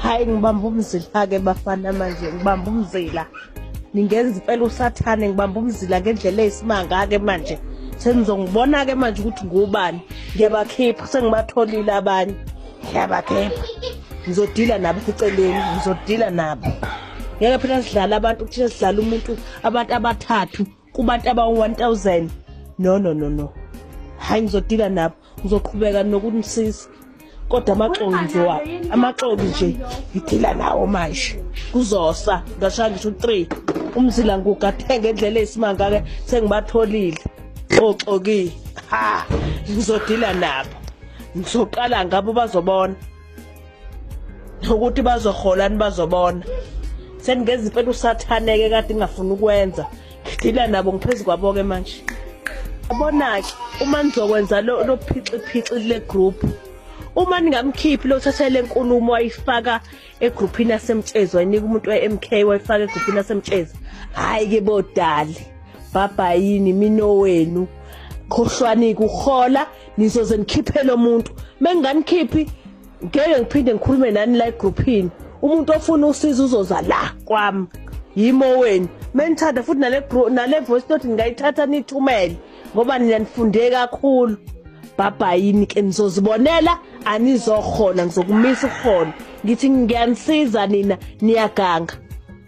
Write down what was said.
hayi ngibamba umzila-ke bafana manje ngibamba umzila ningenza impela usathane ngibamba umzila ngendlela eyisimanga-ke manje senizongibona-ke manje ukuthi ngubani ngiyabakhipha sengibatholile abanye ngiyabakhipha ngizodila nabo eceleni ngizodila nabo ngeke phela sidlala abantu kuthina sidlala umuntu abantu abathathu kubantu abawu-1000 no no no no hhayi ngizodila nabo ngizoqhubeka nokunisiza kodwa amaxoki nje wabo amaxoki nje ngidila nawo manje kuzosa ngashaya ngisho u-three umzila ngugathenge endlela eyisimanga-ke sengibatholile oxokile ha ngizodila nabo ngizoqala ngabo bazobona ukuthi bazoholani bazobona seningeza impela usathaneke kade ngingafuni ukwenza ngidila nabo ngiphezu kwabo-ke manje abona-ke uma nizokwenza lo phixiphixi kule group uma ningamkhiphi lothatha le nkulumo wayifaka egruphini yasemtshezi wayinika umuntu we-mk wayifaka egruphini yasemtshezi hhayi-ke bodali bhabhayini minowenu khohlwani kuhola nizoze nikhiphele umuntu menginganikhiphi ngeke ngiphinde ngikhulume nani la egrouphini umuntu ofuna usiza uzoza la kwami yimo wenu menithanda futhi nale nale voice note ningayithatha nithumele ngoba nina nifunde kakhulu bhabhayini ke nizozibonela anizokhona ngizokumisa ukhona ngithi ngiyanisiza nina niyaganga